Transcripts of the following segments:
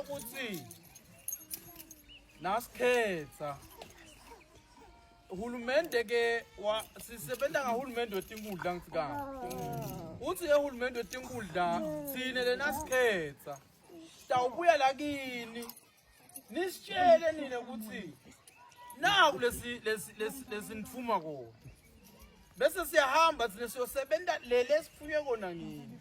ukuthi nasikhetha uhulumende ke sisebenza ngahulumende wetinkundla ngithi ka uthi ehulumende wetinkundla thina lena sikhetha sitawubuya la kini nisitshele nina ukuthi naku lesi lesi lesi nifuma kona bese siyahamba thina siyosebenza leli esifunye kona ngini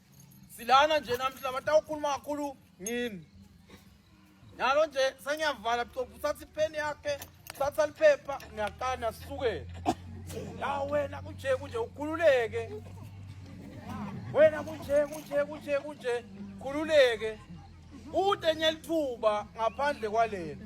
silana nje namhla batawukhuluma kakhulu ngini nalo nje sengiyavala bucobu uthatha ipeni yakhe uthatha liphepha ngiyaqana sisuke la wena kunje kunje ukhululeke wena kunje kunje kunje kunje khululeke ude nyelithuba ngaphandle kwalena